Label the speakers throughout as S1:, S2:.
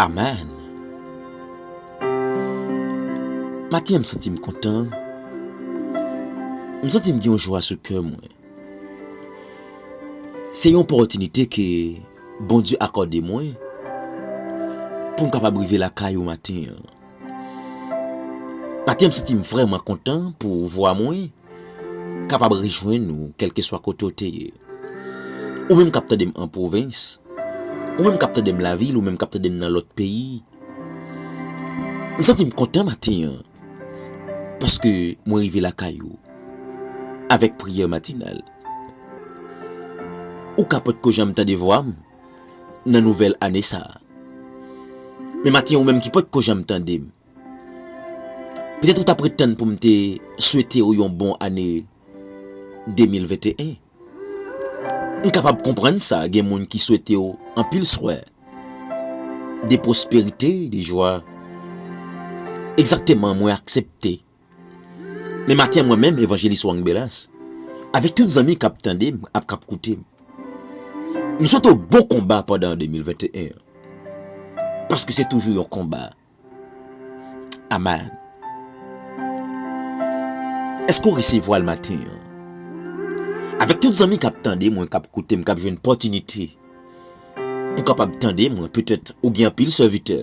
S1: Amen Maten m santi m kontan, m santi m gen yon jwa sou kè mwen. Se yon opòtinite ke Bondye akòde mwen pou m kapab rive lakay ou maten an. Maten an m santi m vrèman kontan pou vwa mwen kapab rejwenn ou kèlkeswa kote ou te ye. Ou menm k ap tande m an pwovens, ou menm k ap tande m lavil, ou menm k ap tande m nan lòt peyi. M santi m kontan maten an. Paske mwen rive lakay ou avèk priyè matinal. Ou ka potko janm tande vwa m nan nouvèl ane sa a. Men maten ou menm ki potko janm tande m, petèt ou t ap ret tann pou m te swete ou yon bon ane 2021. M kapab konprann sa gen moun ki swete w anpil swè de pwosperite, de jwa. Egzakteman mwen aksepte. Men maten mwen menm Evanjelis Wang Belas avèk tout zanmi k ap tande m ak k ap koute m, m swete w bon konba pandan 2021 an. Paske se toujou yon konba. Amen. Eske ou resevwal maten an? Avèk tout zanmi kap tande mwen, kap koute m, kap jwenn pòtinite pou kapab tande mwen, petèt ou gen anpil sèvitè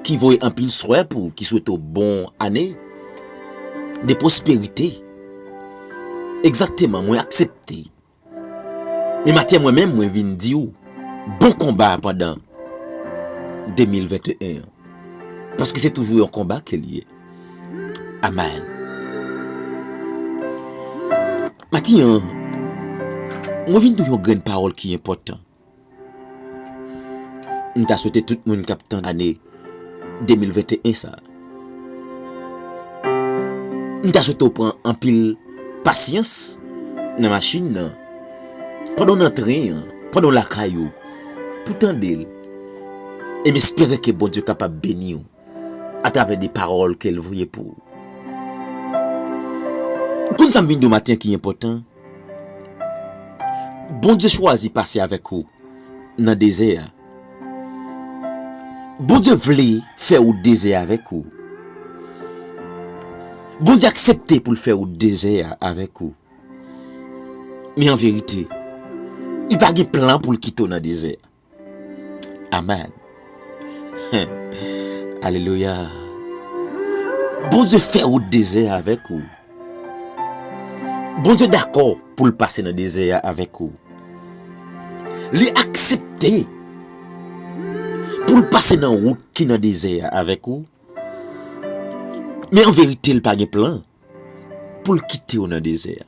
S1: ki voye anpil swè pou ou, ki swete ou bon ane de pwosperite. Egzakteman mwen aksepte. Men maten mwen menm mwen vin di ou bon konba pandan 2021 an. Paske se toujou yon konba ke li ye. Amen. Maten an, mwen vin di ou yon grenn pawòl ki enpòtan. M ta swete tout moun kap tann ane 2021 sa. M ta swete w pran anpil pasyans nan machin nan, pandan w nan tren an, pandan w lakay ou, pou tande l. E m espere ke Bondye kapab beni w atravè de pawòl ke l voye pou ou. Ou konn sa m vin di w maten an ki enpòtan? Bondye chwazi pase avèk ou nan dezè a. Bondye vle fè wout dezè avèk ou. Bondye aksepte pou l fè wout dezè a avèk ou. Men an verite, li pa gen plan pou l kite w nan dezè a. Amen. Alelouya. Bondye fè wout dezè a avèk ou. Bondye dakò pou l pase nan dezè a avèk ou. Li aksepte pou l pase nan wout ki nan dezè a avèk ou. Men an verite l pa gen plan pou l kite ou nan dezè a.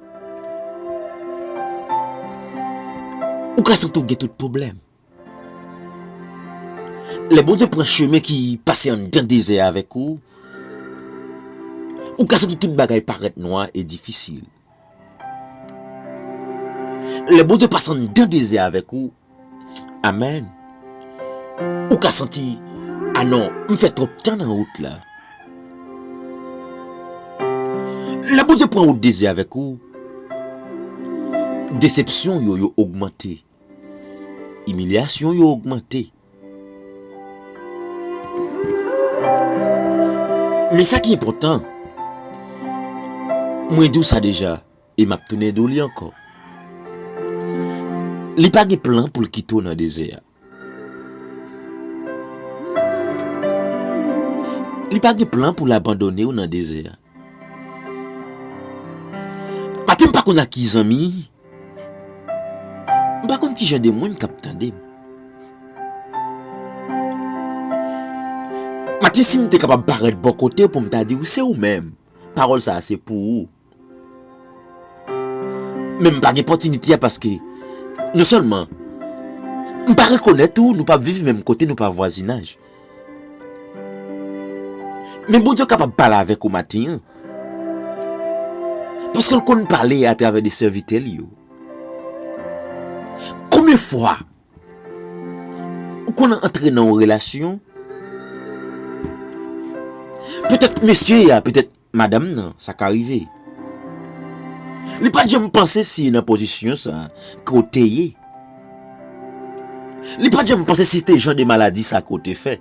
S1: Ou ka santi w gen tout pwoblèm. Lè Bondye pran chemen ki pase anndan dezè avèk ou, ou ka santi tout bagay parèt nwa e difisil. Lè Bondye pase anndan dezè avèk ou. Amen Ou ka santi Ah non, m fè twòp tan nan wout la Lè Bondye pran wout dezi avèk ou Desepsyon yo yo ogmante Imilyasyon yo ogmante Men sa ki enpòtan Mwen di w sa deja E map tounen di w li ankò. Li pa gen plan pou l kite w nan dezè a. Li pa gen plan pou l abandone w nan dezè a. Atè m pa konn ak ki zanmi, m pa konn ki jan de moun k ap tande m. Atè si m te kapab parèt bò kote w pou m ta di w se ou menm, pawòl sa a se pou ou. Men m pa gen pòtinite a paske non sèlman m pa rekonèt ou, nou pa viv menm kote, nou pa vwazinaj. Men Bondye kapab pale avèk ou maten an paske l konn pale atravè de sèvitè l yo. Konbyen fwa ou konn antre nan yon relasyon petèt mesye a petèt Madanm nan sa ka rive. Li pat janm panse si nan pozisyon sa ke w te ye. Li pat janm panse si se te jan de maladi sa ke w te fè.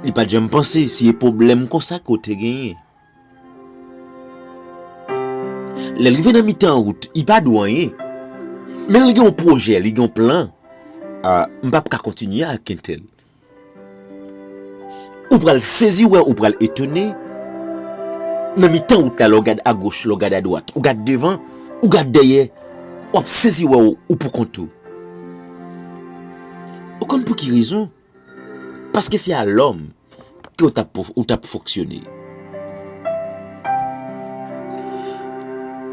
S1: Li pat janm panse si e pwoblèm konsa ke w te genyen. Lè l rive nan mitan wout, li pa di w anyen. Men li gen yon pwojè, li gen yon plan. A, m pap ka kontinye ak entèl. Ou pral sezi wè, ou pral etone, nan mitan wout la lè w gad agoch, lè w gad adwat, ou gad devan, ou gad dèyè, w ap sezi wè ou pou kont ou. Ou konn pou ki rezon? Paske se a lòm ke ou t ap fonksyone.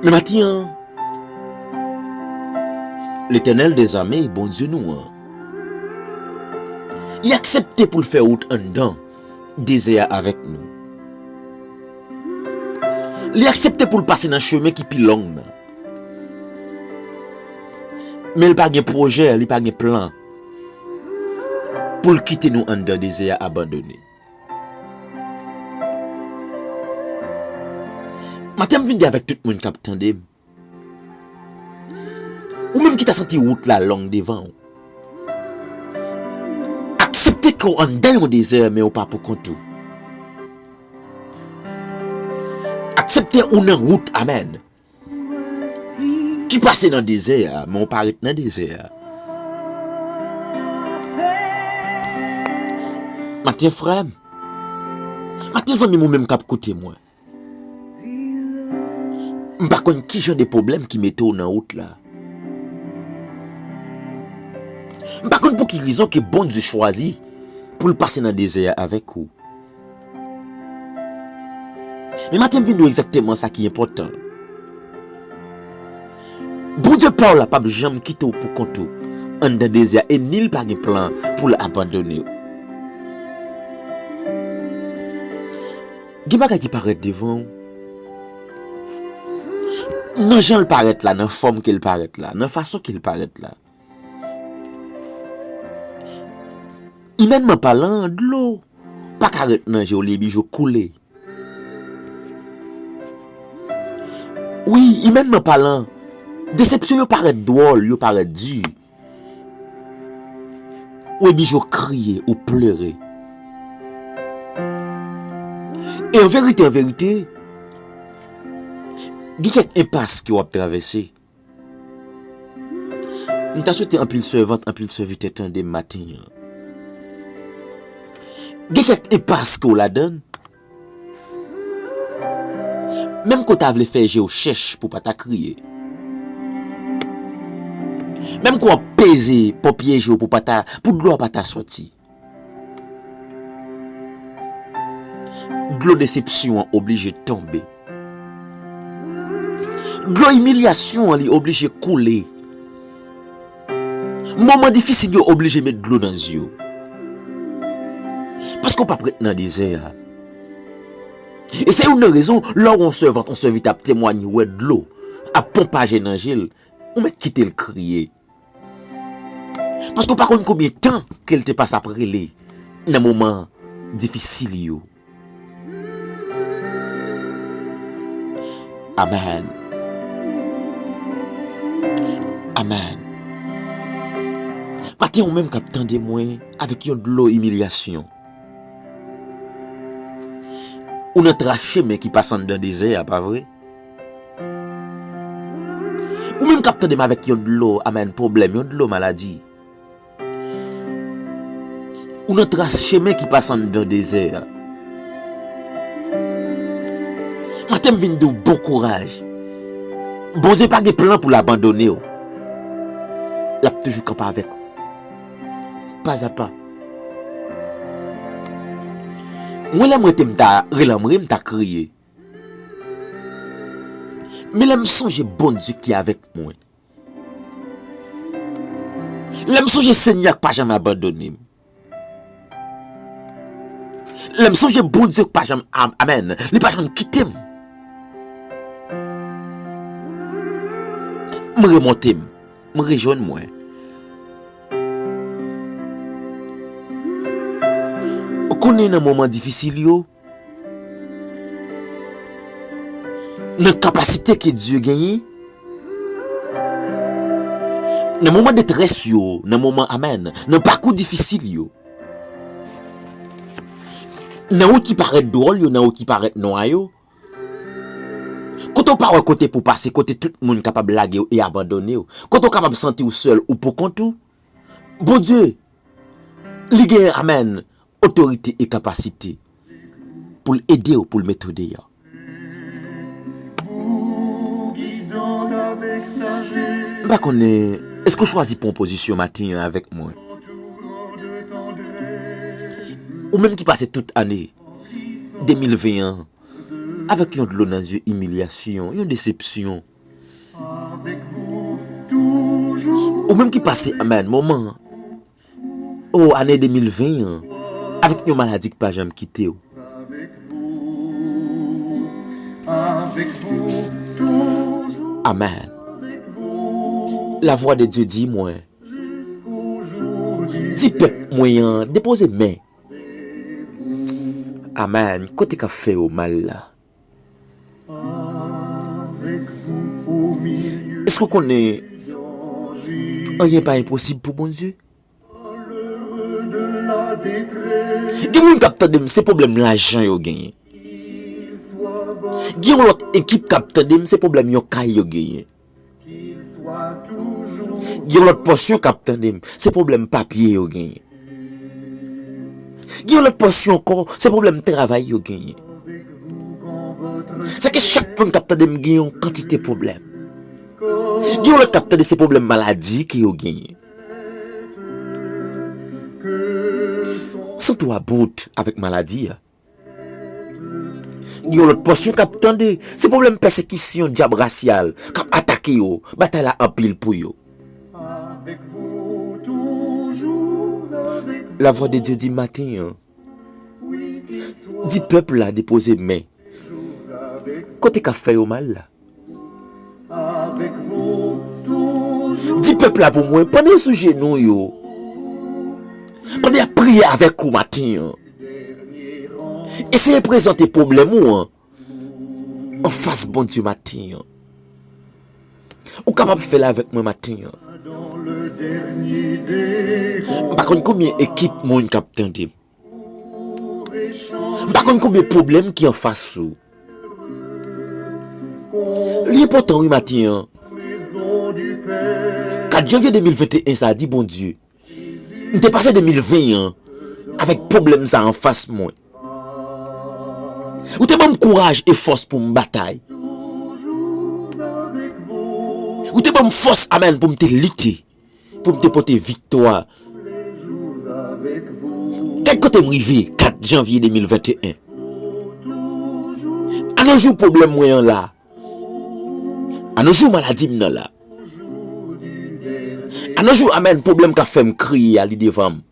S1: Men maten an, Letènèl dèzame, Bondye nou an, Li aksepte pou l fè wout anndan dezè a avèk nou. Li aksepte pou l pase nan chemen ki pi long nan. Men li pa gen pwojè, li pa gen plan pou l kite nou anndan dezè a abandone. Maten m vin di avèk tout moun k ap tande m. Ou menm ki ta santi wout la long devan ou. Aksepte ke w anndan yon dezè men ou pa poukont ou. Aksepte ou nan wout a men ki pase nan dezè a men ou pa ret nan dezè a. Maten frè m, maten zanmi m ou menm k ap koute mwen. M pa konn ki jan de pwoblèm ki mete w nan wout la. M pa konn pou ki rezon ke Bondye chwazi pou l pase nan dezè a avèk ou. Men maten m vin di w egzakteman sa ki enpòtan. Bondye pa w la pap janm kite w pou kont ou anndan dezè a e ni l pa gen plan pou l abandone w. Gen bagay ki parèt devan ou. Nan jan l parèt la, nan fòm ke l parèt la, nan fason ke l parèt la. Imènman palan, dlo pa ka ret nan je w, li bije koule. Wi, imènman palan, desepsyon yo parèt dwòl, yo parèt di. Ou eblije ou kriye, ou pleure. E an verite, an verite, gen kèk enpas ke w ap travèse. M ta swete anpil sèvant, anpil sèvitè tande m maten an. Gen kèk enpas ke w ladann. Menm ke w ta vle fè je w chèch pou pa ta kriye. Menm ke w ap peze pòpye je w pou pa ta, pou dlo a pa ta soti. Dlo desepsyon an oblije tonbe. Dlo imilyasyon an li oblije koule. Moman difisil yo oblije met dlo nan zye w. Paske w pap ret nan dezè a. E se youn nan rezon lè w wè yon sèvant, yon sèvitè ap temwanye ou wè dlo ap ponpaje nan je l, ou mèt kite l kriye. Paske w pa konn konbyen tan ke l te pase ap rele nan moman difisil yo. Amen Amen Maten ou menm kap tande mwen avèk yon dlo imilyasyon Ou nan tra chemen ki pase anndan dezè a pa vre Ou menm kap tande m avèk yon dlo amen pwoblèm yon dlo maladi Ou nan tras chemen ki pase anndan dezè a. Maten m vin di w bon kouraj. Bondye pa gen plan pou l abandone w. L ap toujou kanpe avèk ou. Pazapa. Mwen lè m rete m ta relanmri, m ta kriye. Men lè m sonje Bondye ki avèk mwen. Lè m sonje Senyè a k pa janm abandone m. Lè m sonje Bondye k pa janm amen, li pa janm kite m. M remonte m, m rejwenn mwen. Ou konnen nan moman difisil yo. Nan kapasite ke Dye genyen, nan moman detrès yo, nan moman amen, nan pakou difisil yo, nan wout ki parèt dwòl yo, nan wout ki parèt nwa yo, kote ou pa wè kote pou pase, kote tout moun kapab lage ou e abandone ou, kote ou kapab santi ou sèl ou poukont ou, Bondye, li genyen amen, Otorite e kapasite pou l ede w pou l mete w deyò. M pa konnen èske w chwazi pran pozisyon maten an avèk mwen. Ou menm ki pase tout ane 2020 an avèk yon dlo nan zye imilyasyon, yon desepsyon. Ou menm ki pase anba moman. Oh ane 2020 an avèk yon maladi k pa janm kitew. Amen la vwa de Dye di mwen di pèp mwen an depoze men. Amen kote kap fè yo mal la. Èske w konnen anyen pa enposib pou Bondye? Gen moun k ap tande m se pwoblèm lajan yo genyen. Gen yon lòt ekip k ap tande m se pwoblèm yon kay yo genyen. Gen lòt pòsyon k ap tande m, se pwoblèm papye yo genyen. Gen lòt pòsyon ankò, se pwoblèm travay yo genyen. Sa ke chak moun k ap tande m gen yon kantite pwoblèm. Gen lòt k ap tande se pwoblèm maladi ke yo genyen. Sante w about avèk maladi a. Gen yon lòt pòsyon k ap tande. Se pwoblèm pèsekisyon dyab rasyal k ap atake yo. Batay la anpil pou yo. Lavwadedye di maten an. Di pèp la depoze men. Kote k ap fè yo mal la. Di pèp la pou mwen, pandan yo sou jenou yo, pandan y ap priye avèk ou maten an, eseye prezante pwoblèm ou an anfas Bondye maten an. Ou kapab fè l avèk mwen maten an. M pa konn konbyen ekip moun k ap tande m. M pa konn konbyen pwoblèm ki anfas ou. Li enpòtan wi maten an. 4 janvye 2021 sa di Bondye. M te pase 2020 an avèk pwoblèm sa anfas mwen. Ou te ban m kouraj e fòs pou m batay. Ou te ban m fòs amèn pou m te lite. Pou m te pote viktwa. Gad kote m rive 4 janvye 2021. A no jou pwoblèm mwen an la. A no jou maladi m nan la. A no jou amèn pwoblèm k ap fè m kriye a li devan m.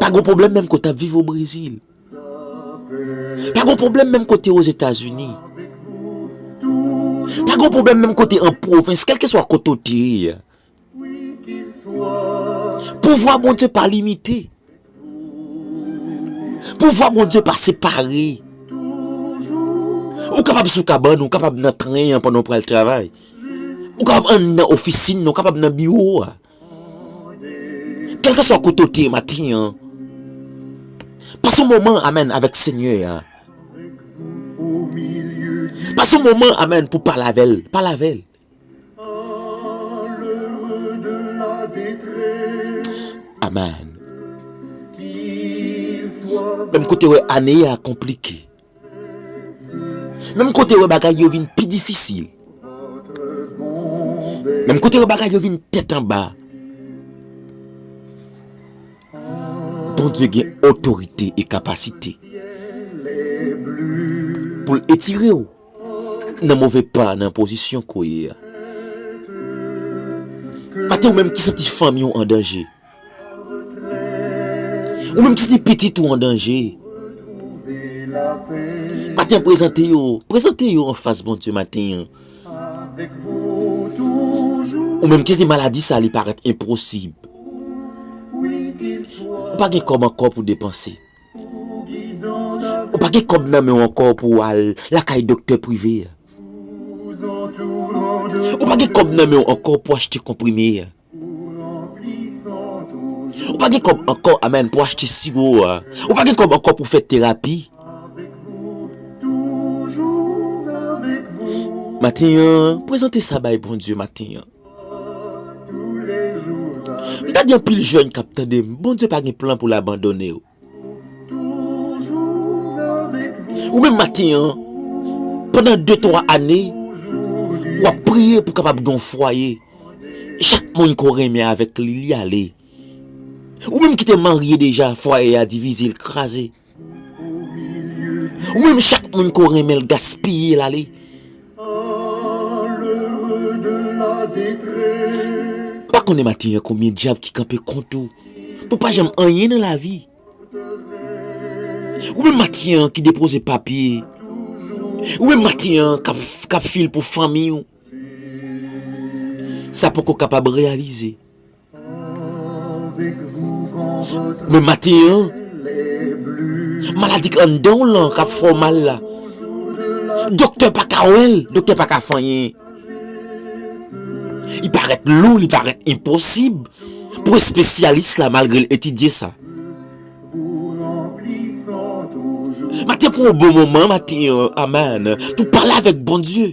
S1: Pa gon pwoblèm menm kote w ap viv o Brezil. Pa gon pwoblèm menm kote w o Zetazini. Pa gon pwoblèm menm kote an pwovens, kèlkeswa kote w te ye a. Pouvwa Bondye pa limite. Pouvwa Bondye pa separe. Ou kapab sou kabann ou, ou kapab nan tren an pandan w pral travay. Ou kapab anndan ofisin nan, ou kapab nan biwo a. Kelkeswa kote w te ye matin an, pase yon moman amen avèk Senyè a. Pase yon moman amen pou pale avè l, pale avè l. Amen. Menm kote wè ane a konplike. Menm kote wè bagay yo vin pi difisil. Menm kote wè bagay yo vin tèt anba. Bondye gen otorite e kapasite. Pou l etire w nan move pa nan pozisyon ko ye a. Mate ou menm ki santi fanmi w an danje. Ou menm ki gen pitit ou an danje, maten an prezante yo, prezante yo an fas Bondye maten an. Ou menm ki di maladi sa li parèt enposib, ou pa gen kòb ankò pou depanse, ou pa gen kòb nan men ou ankò pou ou al lakay doktè prive, ou pa gen kòb nan men ou ankò pou achte konprime an. Ou pa gen kòb ankò amen pou achte siwo a ou pa gen kòb ankò pou fè terapi maten an prezante sa bay Bondye maten an m ta di anpil jèn kap tandem Bondye pa gen plan pou l abandone ou. Ou menm maten an, pandan de twa ane, w ap priye pou kapab gen yon fwaye, chak moun ke w renmen avèk li, li ale. Ou menm ki te marye deja, fwaye a divize, l kraze. Ou menm chak moun ke w renmen, l gaspiye, l ale. Ou pa konnen maten an konbyen dyab ki kanpe kont ou pou pa janm anyen nan lavi Ou menm maten an ki depoze papye Ou menm maten an kap fil pou fanmiy ou Sa poko kapab reyalize Men maten an, maladi k anndan w lan k ap fè w mal la, doktè pa ka wè l, doktè pa ka fè anyen. Li parèt lou, li parèt enposib pou espesyalis la malgre l etidye sa. Maten pou w bon moman, maten an, amen, pou w pale avèk Bondye.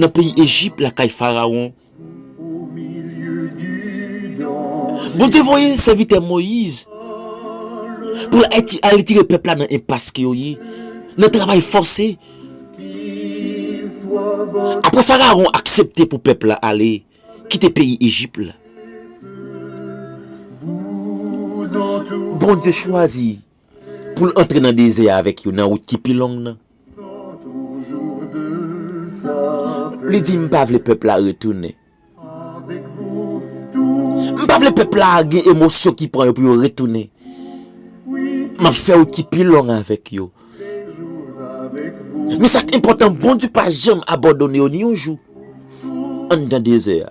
S1: Nan peyi Ejip lakay Farawon. Bondye voye sèvitè Moyiz pou l al retire pèp la nan enpas ke yo ye, nan travay fòse. Apre Farawon aksepte pou pèp la ale kite peyi Ejip la, Bondye chwazi Pou l antre nan dezè a avèk yo nan wout ki pi long nan. Li di, M pa vle pèp la retounen. M pa vle pèp la gen emosyon ki pran yo pou yo retounen. M ap fè wout ki pi long avèk yo. Men sa k enpòtan, Bondye pa janm abandone yo ni yon jou anndan dezè a.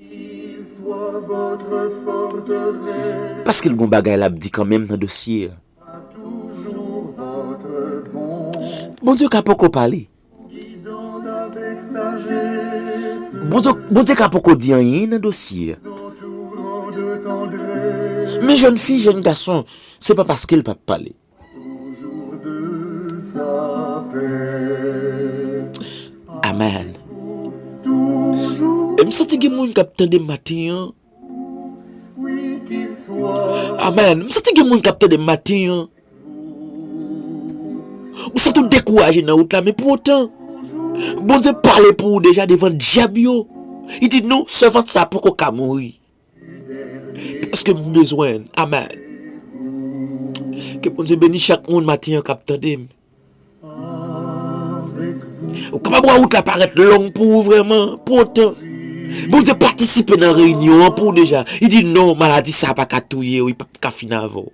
S1: Paskel gon bagay lap di kanmenm nan dosye a. Bondye ka poko pale. Bondye ka poko di anyen nan dosye a. Men jèn fi jèn gason se pa paskel pap pale. Amen M santi gen moun kap tandem matin an Amen M santi gen moun kap tandem matin an Ou santi w dekouraje nan wout la men pou otan Bondye pale pou ou deja devan dyab yo Li di non sèvant sa poko ka mouri Paske m bezwen l amen. Ke Bondye beni chak moun matin an kap tande m. Ou kapab wè wout la parèt long pou ou vrèman, pou otan Bondye patisipe nan reyinyon an pou ou deja. Li di non maladi sa paka touye ou, li pap ka fini avè w.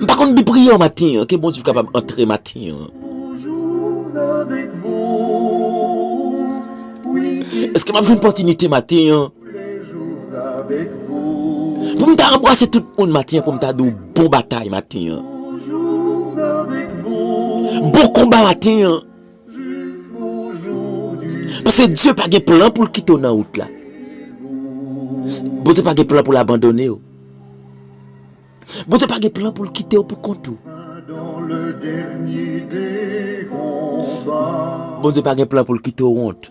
S1: M pa konn bi priyè maten an ke Bondye kapab antre maten an. Eske m ap jwenn pòtinite maten an. Pou m ta anbrase tout moun maten an pou m ta di w bon batay maten an. Bon konba maten an. Paske Dye pa gen plan pou l kite w nan wout la. Bondye pa gen plan pou l abandone w. Bondye pa gen plan pou l kite w pou kont ou. Bondye pa gen plan pou l kite w wont.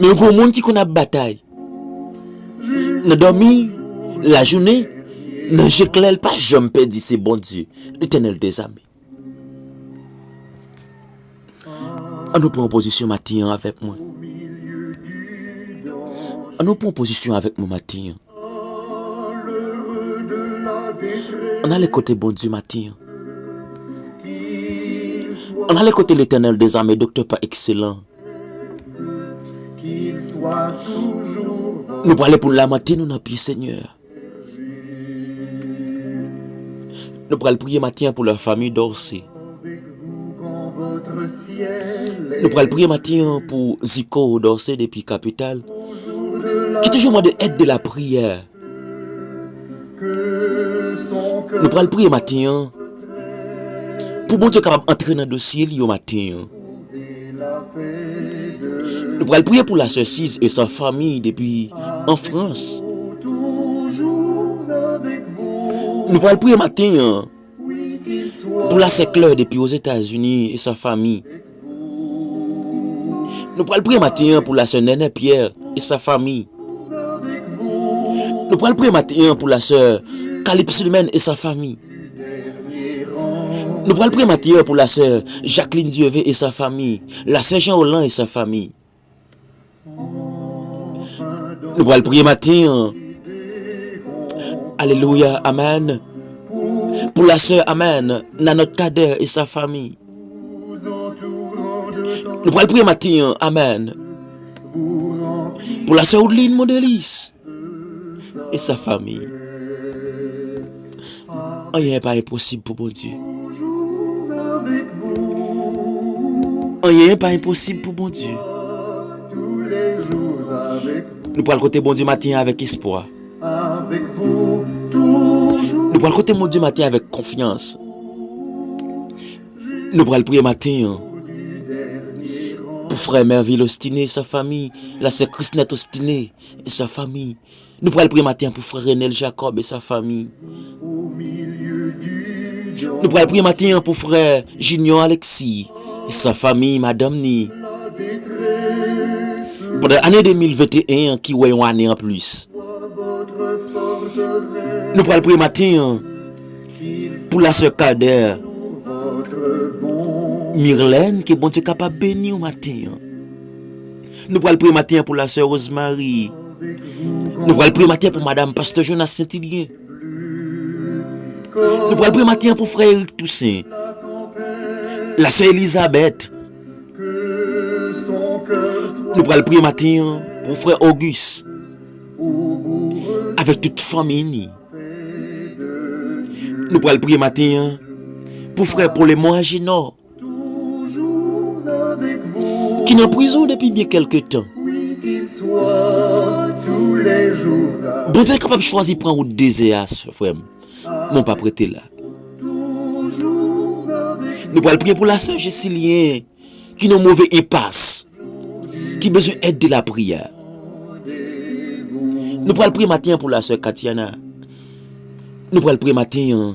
S1: Men gwo moun ki konn ap batay nan dòmi lajounen nan je klè l pa janm pèdi se Bondye Letènèl dezame. An nou pran pozisyon maten an avèk mwen. An nou pran pozisyon avèk mwen maten an. An ale kote Bondye maten an An ale kote Letènèl dezame doktè pa ekselan Nou prale pou n lamante nou nan pye Senyè a Nou pral priye maten an pou la fami Dorcé Nou pral priye matin an pou Zico Dorcé depi kapital ki toujou mande èd de lapriyè. Nou pral priye matin an pou Bondye kapab antre nan dosye li yo matin an. Nou pral priye pou la sè Siz e sa fanmi depi an Frans. Nou pral priye matin an. Pou la se klè depi Ozetazini e san fanmi. Nou pral priye maten an pou la sè Nènè Pyè e san fanmi. Nou pral priye maten an pou la sè Kalipsilmèn e san fanmi. Nou pral priye maten an pou la sè Jaklin Dyeve e san fanmi, la sè Janwolan e san fanmi. Nou pral priye maten an. Alelouya amen. Pou la sè amen. Nanòt kadè e sa fami. Nou pral priye maten an amen. Pou la sè ou dlin mou delis. E sa fanmi? Anyen pa enposib pou Bondye. Anyen pa enposib pou Bondye. Nou pral kote Bondye maten an avèk espwa. Nou pral kote Bondye maten an avèk konfyans. Nou pral priye maten an. Pou frè Mervil Ostinè, sa fanmi, la sè Krisnèt Ostinè. E sa fanmi. Nou pral priye maten an pou frè Renel Jacob e sa fanmi. Nou pral priye maten an pou frè Junior Alexis e sa fanmi madanm ni. Pandan ane 2021 an ki wè yon ane an plis. Nou pral priye maten an pou la sè Kader Mirlène ke Bondye kapab beni w maten an. Nou pral priye maten an pou la sè Rosemary. Nou pral priye maten pou madam Pasteur Jonas Saintilien. Nou pral priye maten an pou frè Eric Toussaint. La sè Elisabeth. Nou pral priye maten an pou frè Auguste. Avèk tout fami ni. Nou pral priye maten an pou frè Paul et Moagino. Ki nan prizon depi byen kèlke tan. Bondye kapab chwazi pran wout dezè a frè m men w pap rete la. Nou pral priye pou la sè Jesilyene ki nan move enpas ki bezwen èd de lapriyè. Nou pral priye maten an pou la sè Katiana. Nou pral priye maten an.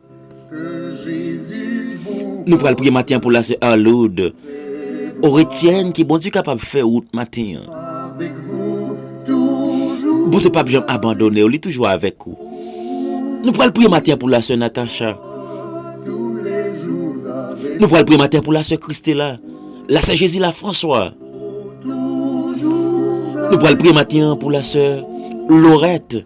S1: Nou pral priye maten an pou la sè Arloud Oretienne ke Bondye kapab fè wout maten an. Bondye pap janm abandone w li toujou avèk ou. Nou pral priye maten an pou la sè Natacha. Nou pral priye maten an pou la sè Christella, la sè Jezila Franswa. Nou pral priye maten an pou la sè Lorette.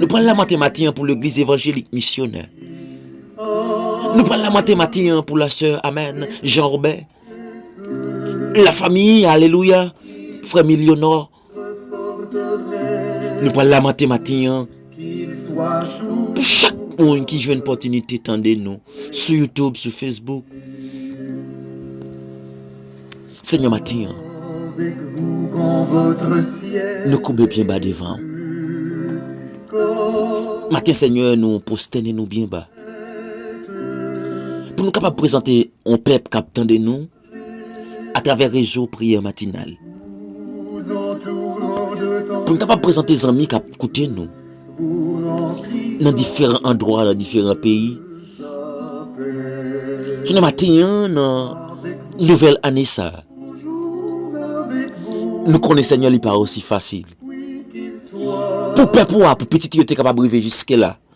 S1: Nou pral lamante matin an pou legliz evanjelik misyonè. Nou pral lamante matin an pou la sè amen Jean Robert. La famiy alelouya frè milionò. Nou pral lamante matin an. Pou chak moun ki jwenn pòtinite tande nou sou youtube, sou facebook. Senyè maten an. Nou koube byen ba devan. Maten senyè nou postène nou byen ba. Pou nou kapab prezante yon pèp kap tande nou. a travè rezo priyè matinal. Pou n kapab prezante zanmi k ap koute nou nan diferan andwa, nan diferan peyi. Jounen maten an nan nouvèl ane sa a, nou konnen Senyè li pa osi fasil. Pou pèp ou a, pou pitit ou yo te kapab rive jiske la.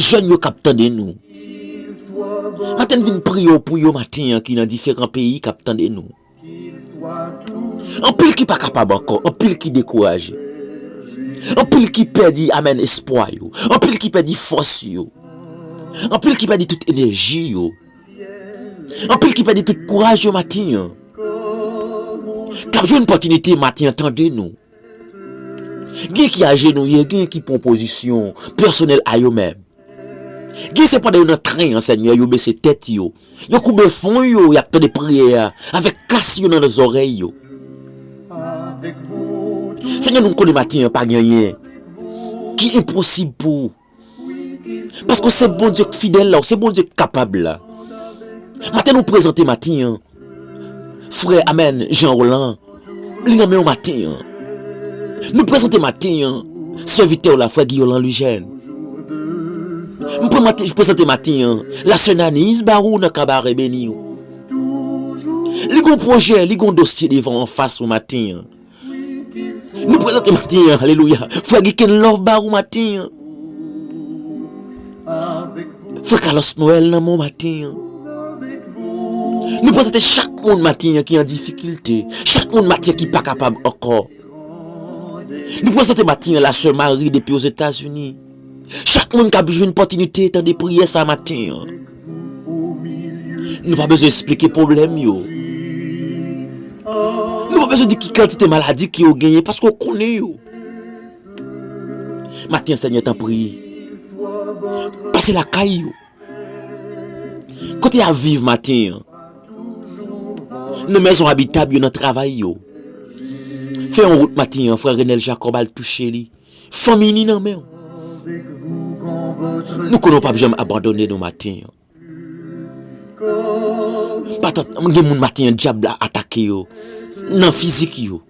S1: Jèn yo kap tande nou. Maten vin priye w pou yo maten an ki nan diferan peyi kap tande nou. Anpil ki pa kapab ankò, anpil ki dekouraje. Anpil ki pèdi amen espwa yo, anpil ki pèdi fòs yo. Anpil ki pèdi tout enèji yo. Anpil ki pèdi tout kouraj yo maten an. Kap jwenn pòtinite maten an tande nou. Gen ki ajenouye, gen ki pran pozisyon pèsonèl a yo menm. Gen se pandan yo nan tren an, Senyè, yo bese tèt yo, yo koube fwon yo, y ap tande priyè a avèk kas yo nan zòrèy yo. Senyè, nou konnen maten an pa gen anyen ki enposib pou ou. Paske w se Bondye k fidèl la, w se Bondye k kapab la. Maten nou prezante maten an, frè Amen Jean Roland, li nan men w maten an. Nou prezante maten an, sèvitè w la frè Guillaume Lanlujène. M prezante maten an, la sè Naniz Barou nan Kabarè beni w. Li gon pwojè, li gon dosye devan w anfas w maten an. Nou prezante maten an alelouya Frè Geken love ba ou maten an Frè Kalos Noel nan men w maten an Nou prezante chak moun maten an ki an difikilte Chak moun maten an ki pa kapab ankò Nou prezante maten an la sè Mari depi ozetazini Chak moun kap jwenn pòtinite tande priyè sa maten an. Nou pa bezwen esplike pwoblèm yo. Nou pa bezwen di ki kantite maladi ke yo genyen paske ou konnen yo. Maten an Senyè tanpri, pase lakay yo. Kote yap viv maten an. Nan mezon abitab yo, nan travay yo. Fè yon wout maten an, frè Renel Jacob al touche li. Fanmi ni nan menw. Nou konnen w pap janm abandone nou maten an. Patat m gen moun maten an dyab la atake yo nan fizik yo.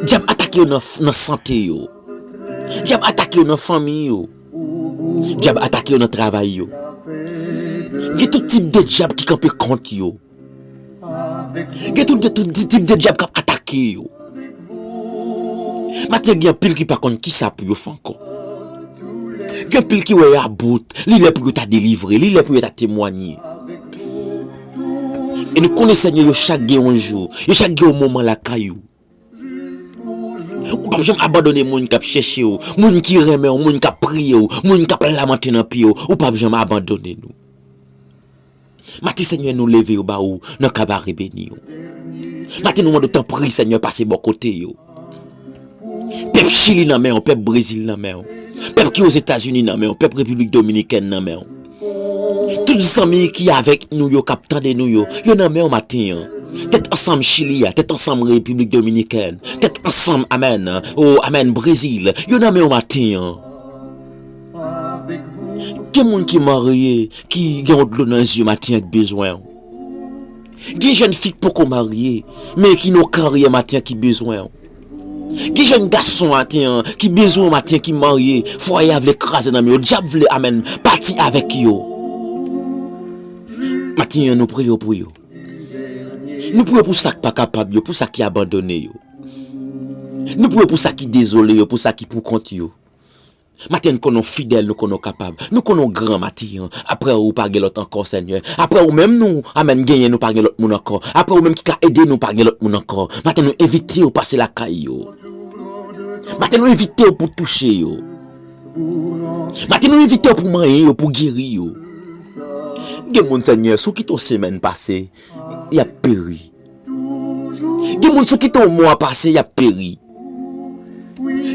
S1: Dyab atake yo nan sante yo. Dyab atake yo nan fanmi yo. Dyab atake yo nan travay yo. Gen tout tip de dyab ki kanpe kont yo. Gen tout de tout tip de dyab kap atake yo. Maten gen pil ki pa konn ki sa pou yo fè ankò. Gen pil ki wè ya bout, li lè pou yo ta delivre, li lè pou yo ta temwanye. E nou konnen senyè yo chak gen yon jou, yo chak gen yon moman lakay yo. Ou pap janm abandone moun kap chèche ou, moun ki renmen ou, moun kap priye ou, moun kap lamante nan pye ou, ou pap janm abandone nou. Maten Senyè nou leve yo ba ou nan kabare beni yo. Maten nou mande ou tanpri Senyè pase bò kote yo. Pèp Chili nan men ou, pèp Brezil nan men ou, pèp ki Ozetazini nan men ou, pèp Repiblik Dominikèn nan men ou. Tout zanmi ki avèk nou yo kap tande nou yo, yo nan menw maten an. Tèt ansanm chili a, tèt ansanm repiblik dominikèn, tèt ansanm amèn o amèn brezil, yo nan menw maten an. Gen moun ki marye ki gen yon dlo nan zye maten an ki bezwenw. Gen jèn fi k poko marye men ki nan yon karyè maten an ki bezwenw. Gen jèn gason aten an ki bezwen w maten ki marye fwaye a vle kraze nan men yo dyab vle amèn pati avèk yo maten an nou priye pou yo nou priye pou sa k pa kapab yo pou sa ki abandone yo nou priye pou sa ki dezole yo pou sa ki pou kont yo. Maten n konnen w fidèl nou konnen w kapab nou konnen w gran maten an aprè ou pa gen lòt ankò senyè aprè ou menm nou amèn genyen nou pa gen lòt moun ankò aprè ou menm ki ka ede nou pa gen lòt moun ankò maten nou envite w pase lakay yo maten nou envite w pou touche yo maten nou envite w pou manyen yo pou geri yo gen moun senyè sou ki ton semèn pase y ap peri. Gen moun sou ki tan mò a pase y ap peri.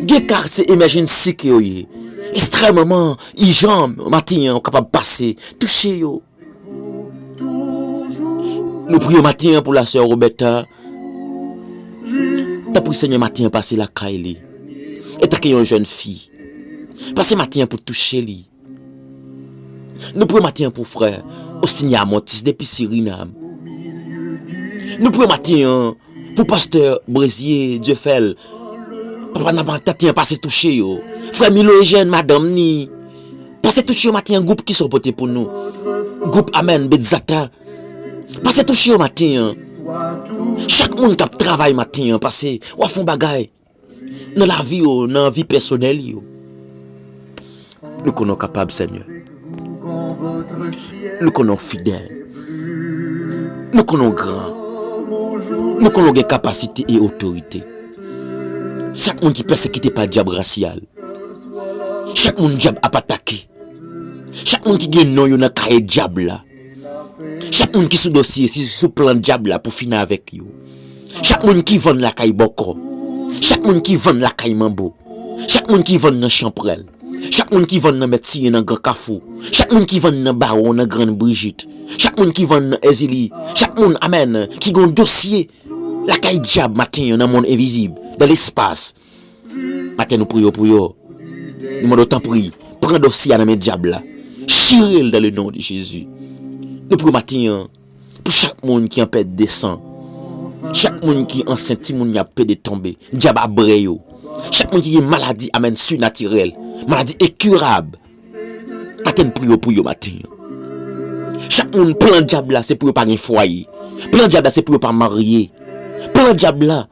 S1: Gen ka se emèjensi ke yo ye. Estrèmman ijan maten an ou kapab pase touche yo. Nou priye maten an pou la sè Roberta. Tanpri Senyè maten an pase lakay li. Etanke yon jèn fi. Pase maten an pou touche li. Nou pran maten an pou frè Austin Yamontis depi Sirinam. Nou pran maten an pou pastè Brezier Dieufel. Papa nan pran maten an pase touche yo. Frè Milo Eugène, madanm ni. Pase touche yo maten an gwoup ki sa w pote pou nou. Gwoup Amen Betzata. Pase touche yo maten an. Chak moun k ap travay maten an pase w ap fè yon bagay. Nan lavi yo, nan vi pèsonèl yo. Nou konnen w kapab senyè. Nou konnen w fidèl. Nou konnen w gran. Nou konnen w gen kapasite e otorite. Chak moun ki pèsekite pa dyab rasyal. Chak moun dyab ap atake. Chak moun ki gen non yo nan kaye dyab la. Chak moun ki sou dosye si se sou plan dyab la pou fini avèk yo. Chak moun ki vann lakay bòkò. Chak moun ki vann lakay manbo. Chak moun ki vann nan chanprèl. Chak moun ki vann nan mèt siye nan gran kafou. Chak moun ki vann nan bawon nan grann brijit. Chak moun ki vann nan èzili. Chak moun, amèn, ki gen yon dosye lakay dyab maten an nan monn envizib, dan lespas. Maten nou priye w pou yo. Nou mande w tanpri, pran dosye a nan men dyab la. Chire l dan le non de Jezi. Nou priye w maten an pou chak moun ki an pèt de san. Chak moun ki ansent timoun y ap pede tonbe. Dyab a bre yo. Chak moun ki gen maladi amèn sinatirèl. Maladi enkirab. Maten n priye w pou yo maten an. Chak moun plan dyab la se pou yo pa gen fwaye. Plan dyab la se pou yo pa marye. Plan dyab la.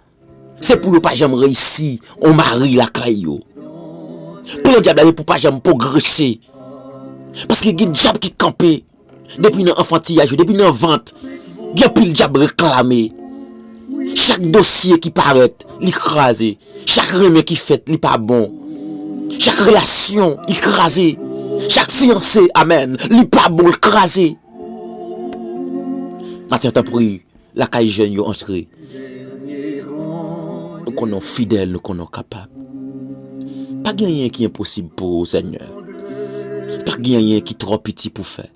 S1: Se pou yo pa janm reyisi yon mari lakay yo. Plan dyab la se pou pa janm pwogrese. Paske gen dyab ki kanpe depi nan anfantiyaj yo, depi nan vant. Gen anpil dyab reklame. Chak dosye ki parèt, li kraze. Chak renmen ki fèt, li pa bon. Chak relasyon, li kraze. Chak fiyanse, amèn, li pa bon, li kraze. Maten an tanpri. Lakay jèn yo antre. Nou konnen w fidèl, nou konnen w kapab. Pa gen anyen ki enposib pou ou, Senyè. Pa gen anyen ki twò piti pou fè.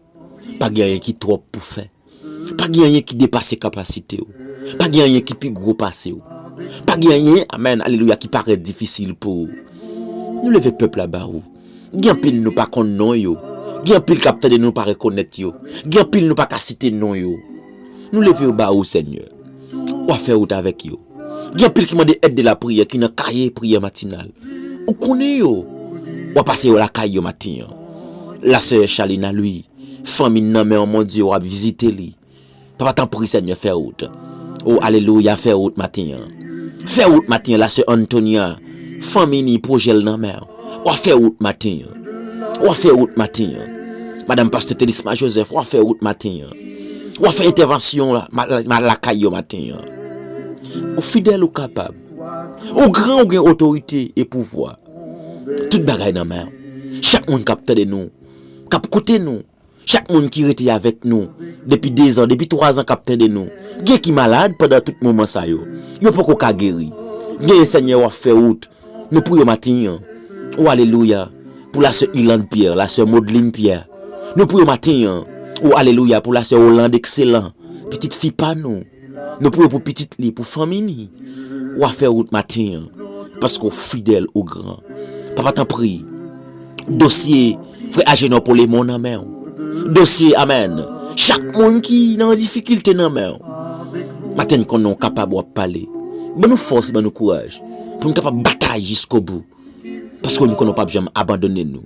S1: Pa gen anyen ki twòp pou fè. Pa gen anyen ki depase kapasite ou. Pa gen anyen ki pi gwo pase ou. Pa gen anyen, amen, alelouya, ki parèt difisil pou ou. Nou leve pèp la ba ou. Gen anpil nou pa konn non yo. Gen anpil k ap tande nou pa rekonèt yo. Gen anpil nou pa ka site non yo. Nou leve yo ba ou, Senyè. W a fè wout avèk yo. Gen anpil ki mande èd de lapriyè ki nan kaye priyè matinal. Ou konnen yo. W a pase yo lakay yo maten an. Lasè Chalina Louis, fanmi n nan men w, Bondye, w ap vizite li. Papa tanpri senyè fè wout. Oh alelouya fè wout maten an. Fè wout maten an la sè Antonia fanmi ni projè l nan men w. Wa fè wout maten an. Wa fè wout maten an. Madam pastè Thelisma Joseph wa fè wout maten an. Wa fè entèvansyon la lakay yo maten an. Ou fidèl ou kapab. Ou gran ou gen otorite e pouvwa. Tout bagay nan men w. Chak moun kap tande nou. Kap koute nou. Chak moun ki rete avèk nou depi dezan, depi twazan k ap tande nou, gen ki malad pandan tout moman sa yo, yo poko ka geri. Genyen Senyè wap fè wout nou pou yo matin an. O alelouya pou la sè Ilande Pierre, la sè Modeline Pierre nou pou yo matin an. O alelouya pou la sè Olande Excellent, pitit fi pa nou. Nou priye pou pitit li, pou fanmi li. Ou a fè wout maten an, paske ou fidèl, ou gran. Papa tanpri, dosye frè Ajenò Polemon nan men ou. Dosye, amèn, chak moun ki nan difikilte nan men ou. Maten n konnen ou kapab, ou ap pale. Ban nou fòs, ban nou kouraj, pou n kapab batay jiskobou. Paske m konnen w pap janm abandone nou,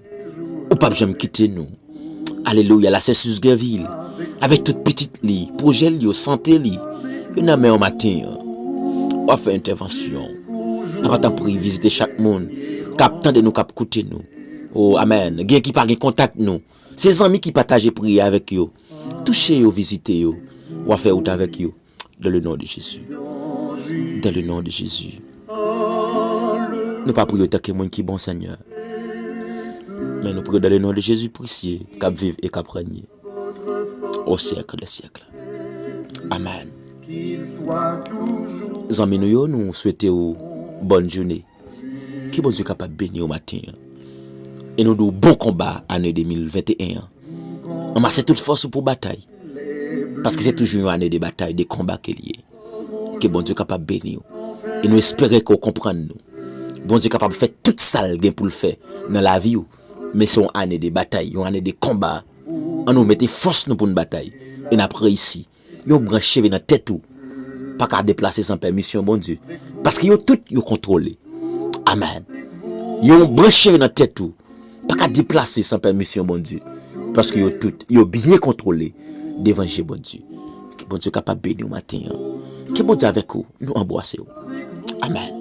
S1: ou pap janm kite nou. Alelouya la sè Suze Gervil avèk tout pitit li, pwojè l yo, sante li, yo nan men w maten an. Wap fè entèvansyon. Papa tanpri vizite chak moun kap tande nou, kap koute nou. O amèn. Gen ki pa gen kontak nou. Se zanmi ki pataje priyè avèk yo. Touche yo, vizite yo. Wap fè wout avèk yo. Dan le non de Jezi. Dan le non de Jezi. Nou pa priye tanke moun ki bon Senyè. Men nou priye dan le non de Jezi presye kap viv e kap renye. O syèk de syèk. Amen. Zanmi nou yo nou swete ou bòn joune. Ke Bondye kapab beniw maten an e nou diw bon konba ane 2021 an. Anmase tout fòs ou pou batay paske se toujou yon ane de batay, de konba ke li ye. Ke Bondye kapab beniw e nou espere ke ou konprann nou. Bondye kapab fè tout sal gen poul fè nan lavi ou men se yon ane de batay, yon ane de konba. An nou mete fòs nou poun batay e nap reyisi. Yon branch cheve nan tèt ou pa ka deplase san pèmisyon Bondye, paske yo tout yo kontwole. Amen. Yon branch cheve nan tèt ou pa ka deplase san pèmisyon Bondye, paske yo tout yo byen kontwole devan je Bondye. Ke Bondye kapab beni ou maten an. Ke Bondye avèk ou. Nou anbwase ou. Amen.